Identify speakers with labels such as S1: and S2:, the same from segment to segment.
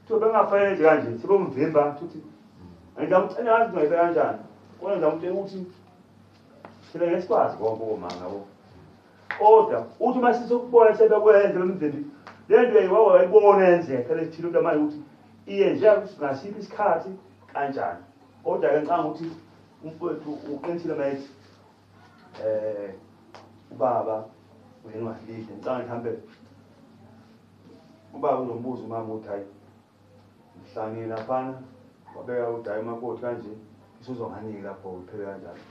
S1: Kuthiwa bengafanele enze kanje, sebemvimba futhi ngizama ukucela ngazi ngayibeka kanjani. Kodwa ngizama ukutshela ukuthi thina ngeke sikwazi konke okomanga bo. Kodwa uthi uma sisokubona sebekwenze bemvimbi le nto yayiwawa wayibona yenzeka lethile into manje ukuthi iyenzeka ngasiphi isikhathi kanjani. Kodwa-ke ngicanga ukuthi umfowethu uqinisile uma ethi um ubaba uyenwadlile ngicanga ukuthi hambe Ubaba uzombuza umama ukuthi hayi ngihlangile laphana wabeka ukuthi hayi umakoti kanje isuzonganiki lapho uphele kanjalo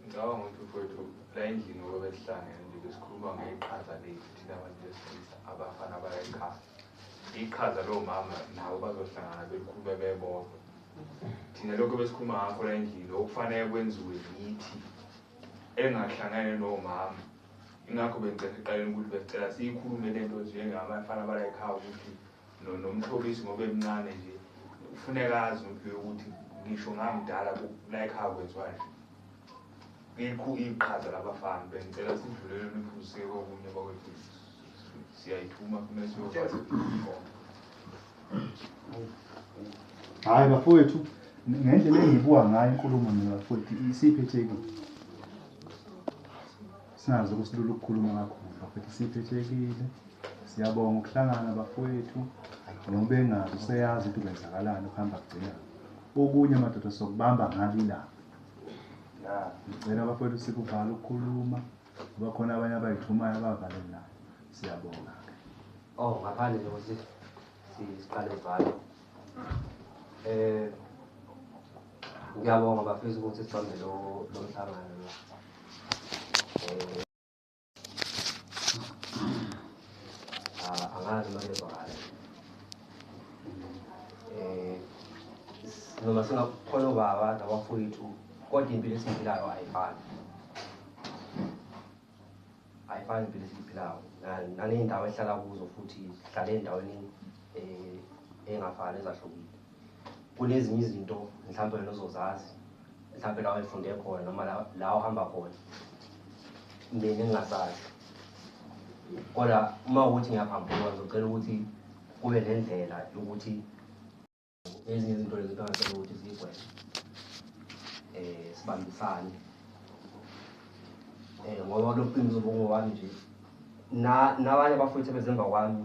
S1: ngicabanga
S2: ukuthi mfowethu la endlini ngoba besihlangene nje besikhuluma ngeqhaza lethu thina abantu besilisa abafana baya ekhaya iqhaza lowo mama nabo bazohlangana belikhulume bebodwa thina lokho besikhuluma ngakho la endlini okufanele kwenziwe yithi engahlangene nowo mama Ingakho bengicela eqaleni ukuthi besicela siyikhulume le nto nje ngabafana balayikhaya ukuthi nomhlobisi ngoba emncane nje kufuneka azi impilo yokuthi ngisho ngamdala layikhaya kwenziwanje ngikho iqhaza labafana bengicela sidlulele niphuziseke kokunye bakwethu siyayithuma
S3: kumele siyokwazi hayi bafowethu ngendlela engibuka ngayo inkulumo nina bafowethu isiphetheki singazi ukusilula ukukhuluma kakhulu bafowethu isiphethekile siyabonga ukuhlangana bafowethu noma ubengazi useyazi ukuthi kwenzakalani ukuhamba kugcina okunye amadoda sokubamba ngabi lapho ngicela bafowethu sikuvala ukukhuluma Bakhona abanye abayithumayo abavalelayo. Siyabonga ke. Oh,
S4: ngaphandle nje ukuthi siqale valo. Eh ngiyabonga bafisa ukuthi sibambe lo lo mhlangano lo. Eh ah, angazi noma ngizwakala. Eh noma singakhona ubaba nabafowethu kodwa impilo esiyiphilayo ayifani. ayifani impilo esiyiphilayo naney'ndawo esihlala kuzo futhi sihlale ey'ndaweni um eh, ey'ngafani ezahlukile kunezinye izinto mhlawumbe wena ozozazi mhlawumbe lawo efunde khona noma la ohamba khona mina engingazazi kodwa uma ukuthi ngiyaphambukwa ngizocela ukuthi kube nendlela yokuthi Ezinye izinto lezi kuqakatheke ukuthi zigweme eh sibambisane eh ngoba lokuqiniso ubungowami nje na nabanye bafowethu bezemba kwami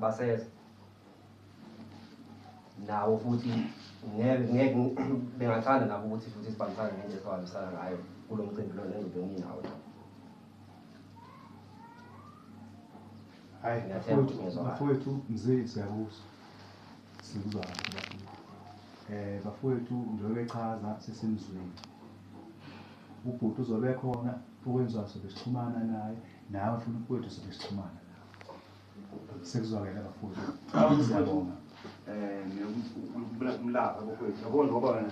S4: baseza nawo futhi ngeke ngeke bengathanda nabo ukuthi futhi sibambisane ngendlela esibambisana ngayo kulo mcimbi lona engibe nginawo
S3: Hayi Ngiyathemba ukuthi ngizwa kahle. bafowethu mzee siyakuzwa. Sikuzwa kahle bafowethu. Eh bafowethu njengoba echaza sesimzwile. Ubhuti uzobe khona okwenziwa sobe sixhumana naye nawe futhi mfowethu sobe sixhumana nawe. Sekuzwakele bafowethu. Siyabonga. um ngiyokulapha umlapha
S1: kokwethu yabona ngoba wena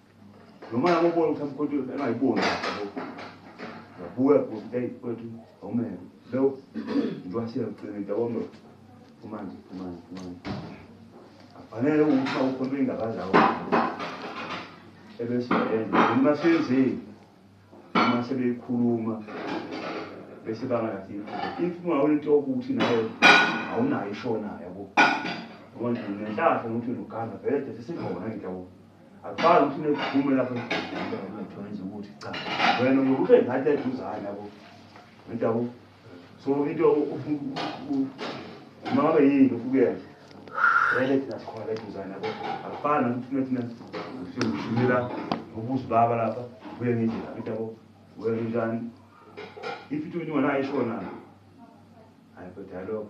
S1: noma yabo ubona ukuthi amkhonto engayiboni yabuya futhi hey kwethu awumele lo ngiwashela ugcine into yabo manje kumanje kumanje kumanje afanele ukuthi awukhonto ingakadlawo ebese yenza noma senzeni uma sebeyikhuluma bese bangalathi if ungawona into yokuthi naye awunayo ishonayo yabo ngoba nginehlahla ukuthi noganda vele sesikhona into yabo Aqala ufune kuphume lapho ngitholenza ukuthi cha wena ngokuthi ngathi eduzana yabo ngidabo so into uma ngabe yini ufukuyena vele thina sikhona la eduzana yabo akufani nokuthi thina siyomshumela ubusi baba lapha kuye ngendlela ngidabo wena njani if into ungenayo ishona hayi kodwa lokho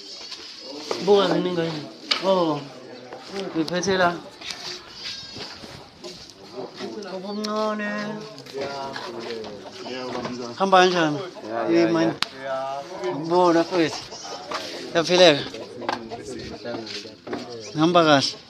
S5: Buka ziningi yini? Oh. Ngiphethe la. Ubumncane. Hamba kanjani? Hey man. Ngibona futhi. Yaphileka. Ngihamba kahle.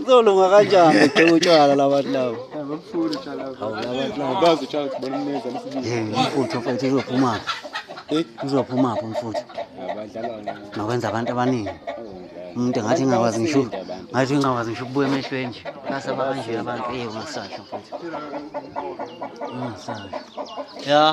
S5: Uzolunga kanjani eqhela utshwala labantu labo? Abafuni utshwala
S6: labo. Hawu labantu labo
S5: bazi utshwala ukuthi bona umneza
S6: lesibili. Eh, umfuthu mfethu uzophuma.
S5: Eh, uzophuma phi umfuthu? Abadlala ngani?
S6: Nokwenza abantu
S5: abaningi. Umuntu ngathi ngingakwazi ngisho ngathi ngingakwazi ngisho ukubuya emehlweni nje. Basa bakanje abantu eh ungasasho mfuthu. Ungasasho. Yeah.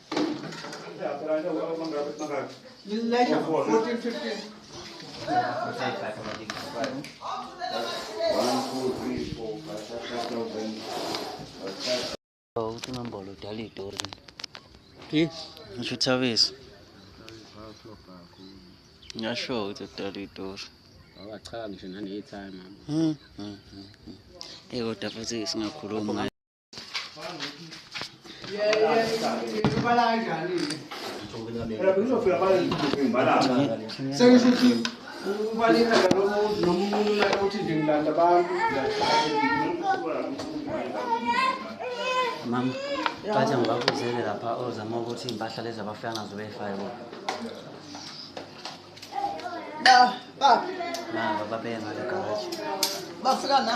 S1: Uthinombolo
S5: udala itori. Phi? Ngisho uThabisa. Ngyasho ukuthi udala itori. Awachami
S7: nje nane time. Mhm.
S5: Hey kodwa futhi singakhuluma
S1: sengisho ukuthi
S6: ubaleka nalomuntu noma umuntu naye uthi nje ngilanda abantu
S5: mama bathe ngibakuzele lapha ozama ukuthi iy'mpahla lezi abafika ngazo beyifake bo Ba,
S8: ba, na
S5: bababeye ngale garaji bafika
S8: na.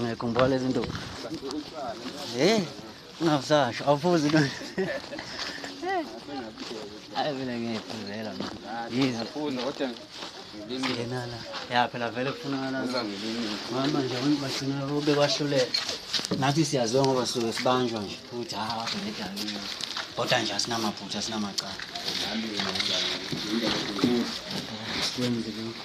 S5: Ngekho ngibola lezi nto. Eh, ungazasho awufuzi into. Hayi mina ngiyiphuzela mina. Yizo. Funda kodwa ngenala. Ya phela vele kufunakala. Mama nje abantu bagcina ube kwahluleka. Nathi siyaziwa ngoba suke sibanjwa nje ukuthi ha wathi ngedalile. Kodwa nje asinamaphutha asinamacala. Nami ngiyazama. Ngiyazama. Kwenze lokho.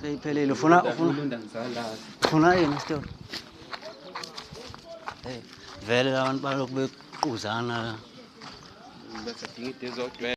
S5: Seyiphelile ufuna ufuna Ulunda ngizala. ufuna yini isitolo? Hey, vele labantu balokhu bequzana la.
S6: Bese dinga into ezogcwela.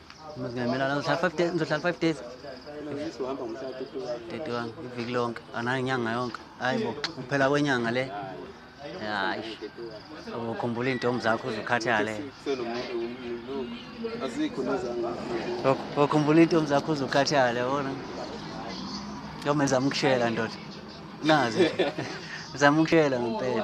S5: ngizohlala five days ngizohlala five days uhamba ngomhlaka thirty one iviki lonke anayo inyanga yonke hayi bo kuphela kwenyanga le hayi ukhumbula iintombi zakho uzukhathale
S6: ukhumbula
S5: iintombi zakho uzukhathale yabona yome zama ukushela ndoda nazi zama ukushela ngempela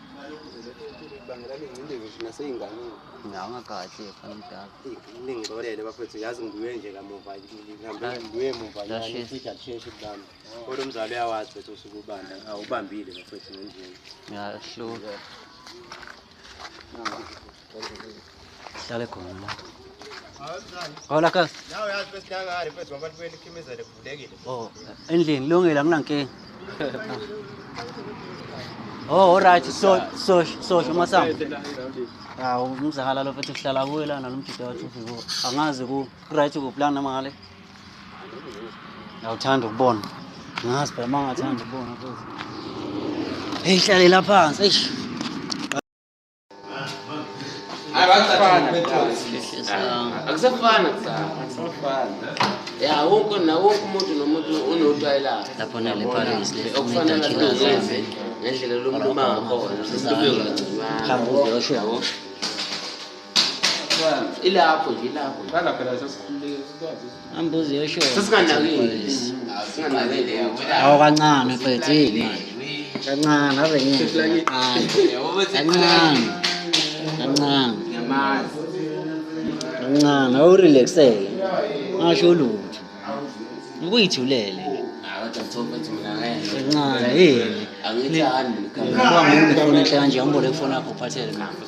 S6: Nganga kahle
S5: fana mdala. Ningixolele
S6: bafethu yazi ngibuye nje kamuva ngihambe ngibuye emuva nje Yashisa. futhi akusheshe kubami. Kodwa umzali uyawazi ukuthi usuke ubanda awubambile bafethu ngendlela.
S5: Ngiyahluka. Hlale khona la. Hola kas. Nawe yazi bese hlangani mfethu
S6: abantu beni khimizele kuvulekile. Oh, endlini
S5: lungile anginankinga. Oh, alright, so so so umasango. Hawu umzakala lo mfethu sihlala kuwe lana lo mjita wathi ufike. Angazi ku right ku plan noma ngale. Ngawuthanda ukubona. Ngazi phela mangathanda ukubona futhi. Hey, hlalela phansi. Eish.
S7: akusafana ya wonke nawonke umuntu nomuntu unotwayi lakhe okufanele
S5: azenze
S7: ngendlela lomuntu uma ngakhona sesibekancono ilapho nje ilapho
S6: Ambuzi yosho.
S5: Sesinganakile.
S7: Singanakile. Awu kancane
S5: mfethu yini manje. Kancane ave ngeke. Kancane. Kancane. Ngiyamazi. Kancane awurelaxele. Ngasho lutho. Ukuyithulele.
S7: Kancane yini. Angithandi.
S5: Ngibonga ngifuna kanje angibole kufona akho phathele manje.